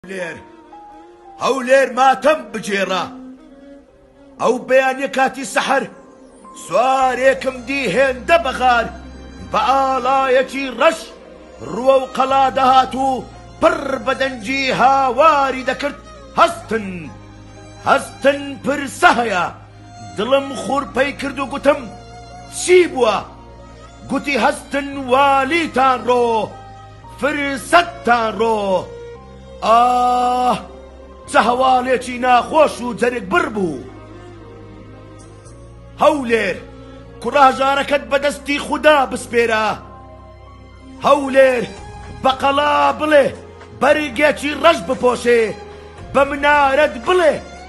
هەولێر هەولێر ماتەم بگێڕە ئەو بەیانە کاتی سەحەر سوارێکم دی هێندە بەغار بە ئاڵایەکی ڕەش ڕووە و قەڵا دەهات و پڕ بەدەنجی هاواری دەکرد هەستن هەستن پرسە هەیە دڵم خورپەی کرد و گوتم چی بووە گوتی هەستن والیتان ڕۆ فرسەتتان ڕۆ ئاه چە هەواڵێکی ناخۆش و جەرگ بڕ بوو هەولێر کوڕاژارەکەت بەدەستی خودا بسپێرە هەولێر بەقەڵا بڵێ بەرگێکی ڕەش بپۆشێ بە منارەت بڵێ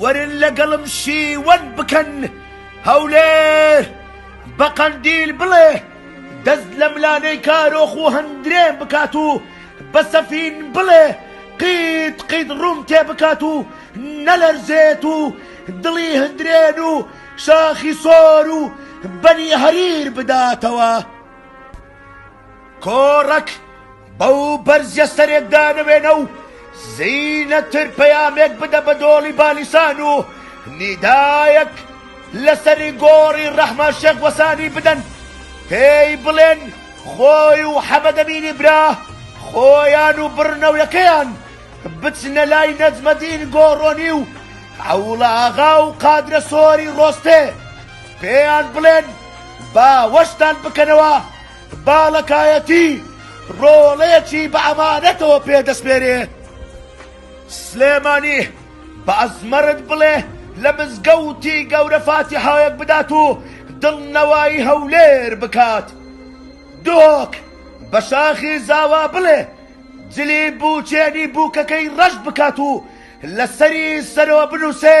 وەرن لەگەڵم شیوەن بکەن هەولێر بە قەندیل بڵێ دەست لە ملانێی کارۆخ و هەندرێن بکات و بە سەفین بڵێ قیت قیت ڕووم تێ بکات و نەلەرزێت و دڵی هەندرێن و شاخی سۆر و بەنی هەریر بداتەوە کۆڕەک بەو بەرزیە سەرێک دانەوێنە و زینەتر پەیامێک بدە بە دۆڵی بانیسان و نیدایەک لە سەری گۆڕی ڕەحمان شێخ وەسانی بدەن پێی بڵێن خۆی و حەمەدەمینی برا خۆیان و بڕنەوەکەیان بچنە لای نەجمەدین گۆڕۆنی و عەوڵە ئاغا و قادرە سۆری ڕۆستێ پێیان بڵێن باوەشتان بکەنەوە باڵەکایەتی ڕۆڵەیەکی بە ئەمانەتەوە پێ دەسپێرێ. سلێمانی بە ئەزمەرت بڵێ لە مزگەوتی گەورە فاتیحایەک بدات و دڵنەوایی هەولێر بکات. دۆک بە شاخی زاوا بڵێ جلی بووکێنی بووکەکەی ڕەش بکات و لەسەری سەرەوە بنووسێ،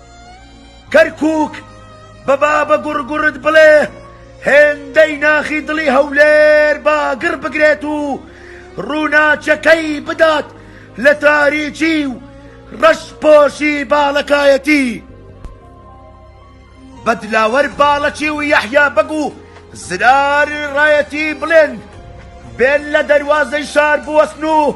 کەرکوک بە بابە گوڕ گوڕت بڵێ هێندەی ناخی دڵی هەولێر با گڕ بگرێت و ڕووناکیەکەی بدات لە تاریکی و ڕەش پۆشی باڵەکایەتی بە دلاوەر باڵەکی و یەحیا بەگ و زرار ڕایەتی بڵێن بێن لە دەروازەی شار بوەستن و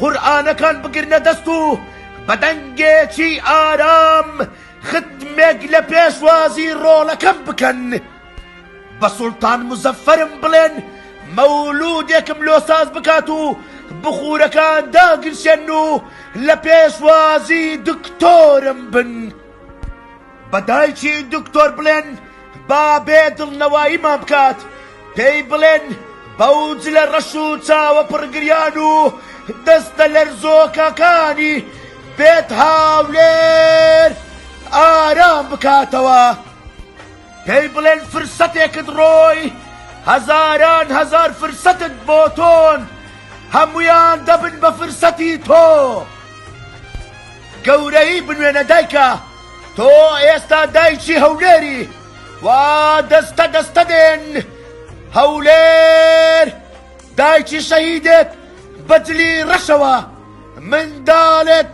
قورئانەکان بگرنە دەست و بە دەنگێکی ئارام ختمێک لە پێشوازی ڕۆڵەکەم بکەن. بە سوڵتان موزەفەرم بڵێن مەولوودێکم لۆ ساز بکات و بخوورەکان داگرشێن و لە پێشوازی دکتۆرم بن. بە دایکی دکتۆر بڵێن با بێ دڵنەواییمان بکات، پێی بڵێن بەو جلە ڕەش و چاوە پڕگریان و دەستە لەرزۆکەکانی بێت هاولێر ئارام بکاتەوە. پێی بڵێن فرسەتێکت ڕۆی، هەزاران هەزار فرسەتت بۆ تۆن، هەموویان دەبن بە فرسەتی تۆ. گەورەیی بنوێنە دایکە. تۆ ئێستا دایکی هەولێری وا دەستە دەستە دێن هەولێر دایکی شەهیدێک بەجلی ڕەشەوە منداڵێک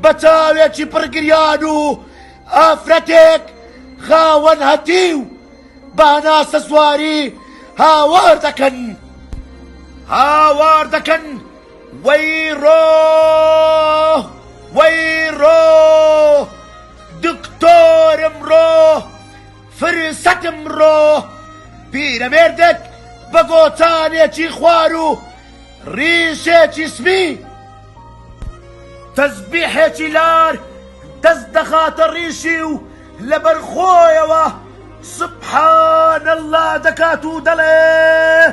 بە چاوێکی پڕگریان و ئافرەتێک خاوەن هەتی و باناسە سواری هاوار دەکەن هاوار دەکەن وەیڕۆ وەیڕۆ دکتۆرم ڕۆ فرسەتم ڕۆ پیرەمێردێک بە گۆچانێکی خوار و ڕیشێکی سپی تەزبیحێکی لار دەست دەخاتە ڕیشی و لەبەر خۆیەوە سبحان اللە دەکات و دەڵێ